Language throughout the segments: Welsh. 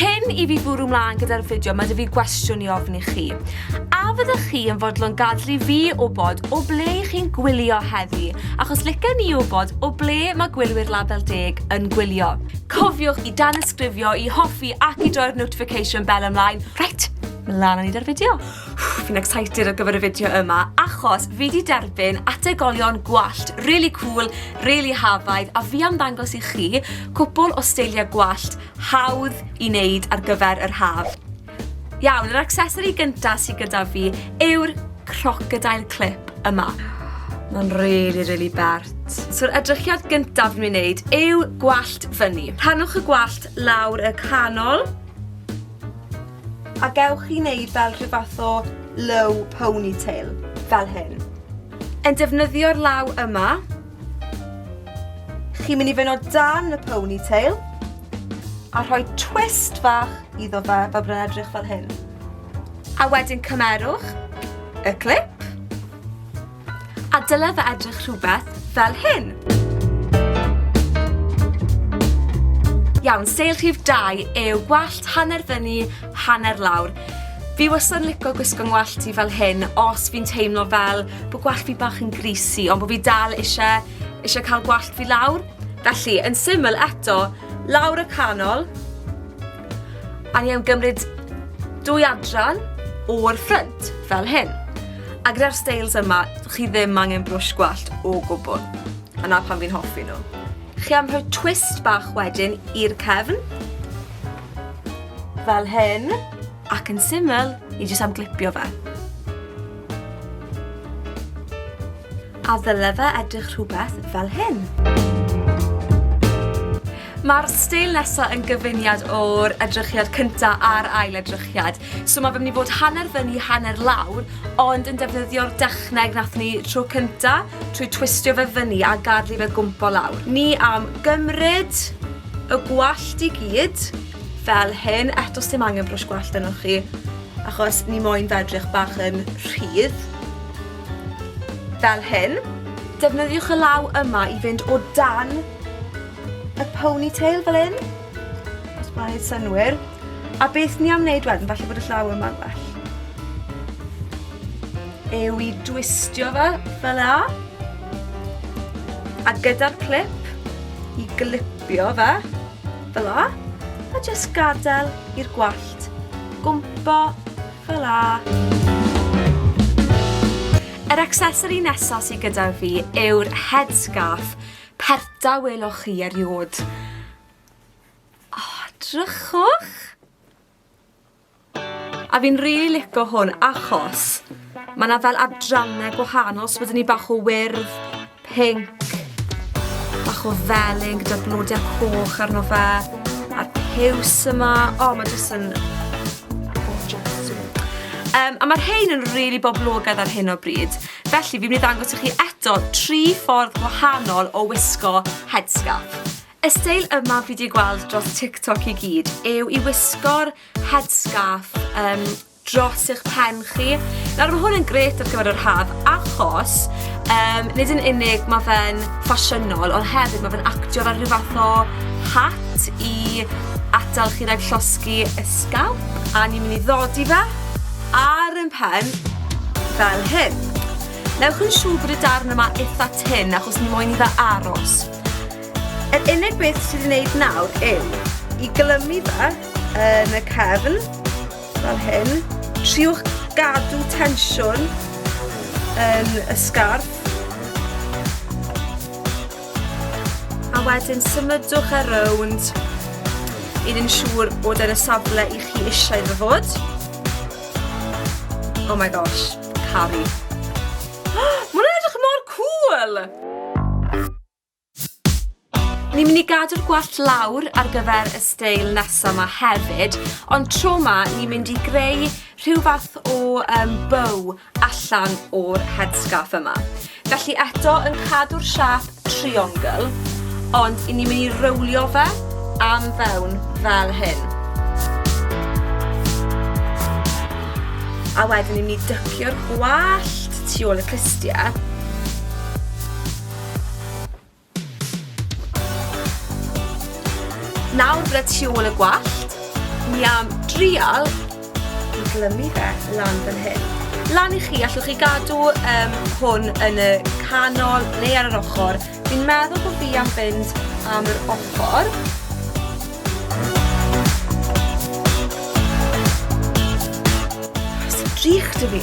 Cyn i fi bwrw mlaen gyda'r fideo, mae dy fi gwestiwn i ofni chi. A fyddwch chi yn fodlon gadlu fi wybod o ble i chi'n gwylio heddi, achos licen ni wybod o ble mae gwylwyr label deg yn gwylio. Cofiwch i dan ysgrifio, i hoffi ac i droi'r notification bell ymlaen. Reit, mlaen â ni da'r fideo. Fi'n excited ar gyfer y fideo yma achos fi di derbyn ategolion gwallt really cool, really hafaidd a fi am ddangos i chi cwpl o steiliau gwallt hawdd i wneud ar gyfer yr haf. Iawn, yr accessory gyntaf sydd gyda fi yw'r crocodile clip yma. Mae'n really, really bert. So'r edrychiad gyntaf fi'n wneud yw gwallt fyny. Rhanwch y gwallt lawr y canol A gewch chi wneud fel rhyw fath o low ponytail, fel hyn. Yn defnyddio'r law yma, chi'n mynd i fynd o dan y ponytail, a rhoi twist fach iddo fe, fel bod e'n edrych fel hyn. A wedyn cymerwch y clip, A dyle fe edrych rhywbeth fel hyn. Iawn, seil rhif 2 yw gwallt hanner fyny, hanner lawr. Fi wastad yn licio gwisgo ngwallt i fel hyn os fi'n teimlo fel bod gwallt fi bach yn greasy ond bod fi dal eisiau, eisiau cael gwallt fi lawr. Felly, yn syml eto, lawr y canol, A ni am gymryd dwy adran o'r ffrynt, fel hyn. A gyda'r stails yma, chi ddim angen brwsh gwallt o gwbl. A na pan fi'n hoffi nhw. Chi am rhoi twist bach wedyn i'r cefn. Fel hyn. Ac yn syml, ni jyst am glipio fe. A ddyle fe edrych rhywbeth fel hyn? Mae'r steil nesaf yn gyfuniad o'r edrychiad cyntaf a'r ail edrychiad. So mae fe'n mynd i fod hanner fyny, hanner lawr, ond yn defnyddio'r dechneg nath ni tro cyntaf, trwy twistio fe fyny a gadlu fe gwmpo lawr. Ni am gymryd y gwallt i gyd, fel hyn, eto sy'n angen brwsh gwallt yno chi, achos ni moyn fe edrych bach yn rhydd. Fel hyn. Defnyddiwch y law yma i fynd o dan y ponytail fel hyn. Os mae'n ei synwyr. A beth ni am wneud wedyn, falle bod y llaw yma'n well. Ew i dwistio fe fel a. A gyda'r clip, i glipio fe fel a. A jyst gadael i'r gwallt gwmpo Hwyla! Yr accessory nesa sy gyda fi yw'r headscarf. Perta weloch chi eriod. Oh, drychwch! A fi'n rili really lico hwn achos mae yna fel adrannau gwahanol, so bod ni bach o wyrdd, Pinc. Bach o felyn gyda blodiau coch arno fe. A'r piws yma. O, oh, mae jyst yn... Um, a mae'r hein yn rili really boblogaidd ar hyn o bryd. Felly, fi'n mynd i ddangos i chi eto tri ffordd gwahanol o wisgo headscarf. Y steil yma fi wedi gweld dros TikTok i gyd yw i wisgo'r headscarf um, dros eich pen chi. Nawr mae hwn yn gret ar gyfer yr haf achos um, nid yn unig mae fe'n ffasiynol ond hefyd mae fe'n actio fel rhyw fath o hat i atal chi rhaid llosgi y sgalp a ni'n mynd i ddodi fe ar yn pen fel hyn. Newch yn siŵr bod y darn yma eitha tyn achos ni moyn i fe aros. Yr unig beth sydd wedi'i wneud nawr yw i glymu fe yn y cefn fel hyn. Triwch gadw tensiwn yn y sgarf. A wedyn symudwch ar rownd i ni'n siŵr bod yn y safle i chi eisiau iddo fod. Oh my gosh, caru. Mae'n edrych mor cool! Ni'n mynd i gadw'r gwallt lawr ar gyfer y steil nesa ma hefyd, ond tro ma ni'n mynd i greu rhyw fath o um, bow allan o'r headscarf yma. Felly eto yn cadw'r siap triongl, ond i ni'n mynd i rowlio fe am fewn fel hyn. A wedyn ni'n mynd i dycio'r gwallt tu ôl y clustia. Nawr gyda tu ôl y gwallt, ni am drial i glymu fe lan fan hyn. Lan i chi, allwch chi gadw um, hwn yn y canol neu ar yr ochr. Fi'n meddwl bod fi am fynd am yr ochr. Sy'n drych dy fi.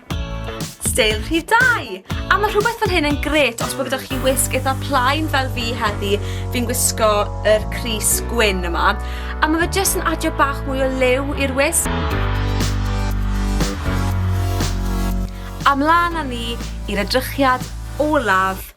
Steil rhif 2! A mae rhywbeth fel hyn yn gret os bod gyda chi wisg eitha plaen fel fi heddi, fi'n gwisgo yr Cris gwyn yma. A mae fe jyst yn adio bach mwy o liw i'r wisg. Amlan â ni i'r edrychiad olaf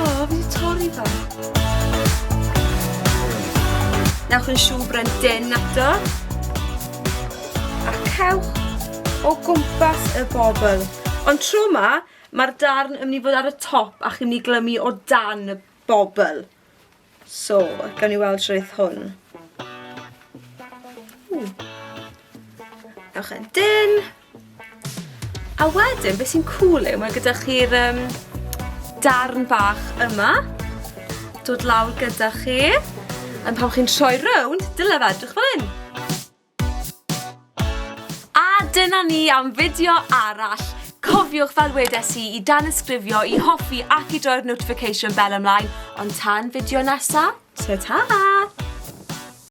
O, fi wedi torri fe. Newch yn siŵr bren den ato. A cewch o gwmpas y bobl. Ond tro yma, mae'r darn yn mynd i fod ar y top a chi'n mynd i glymu o dan y bobl. So, gawn ni weld rhaid hwn. Ewch e'n dyn. A wedyn, beth sy'n cool yw, mae gyda chi'r um, darn bach yma. Dod lawr gyda chi. Yn pan chi'n troi rownd, dyle fe edrych fel hyn. A dyna ni am fideo arall. Cofiwch fel wedes i i danysgrifio, i hoffi ac i droi'r notification bell ymlaen, ond tan fideo nesa, ta ta!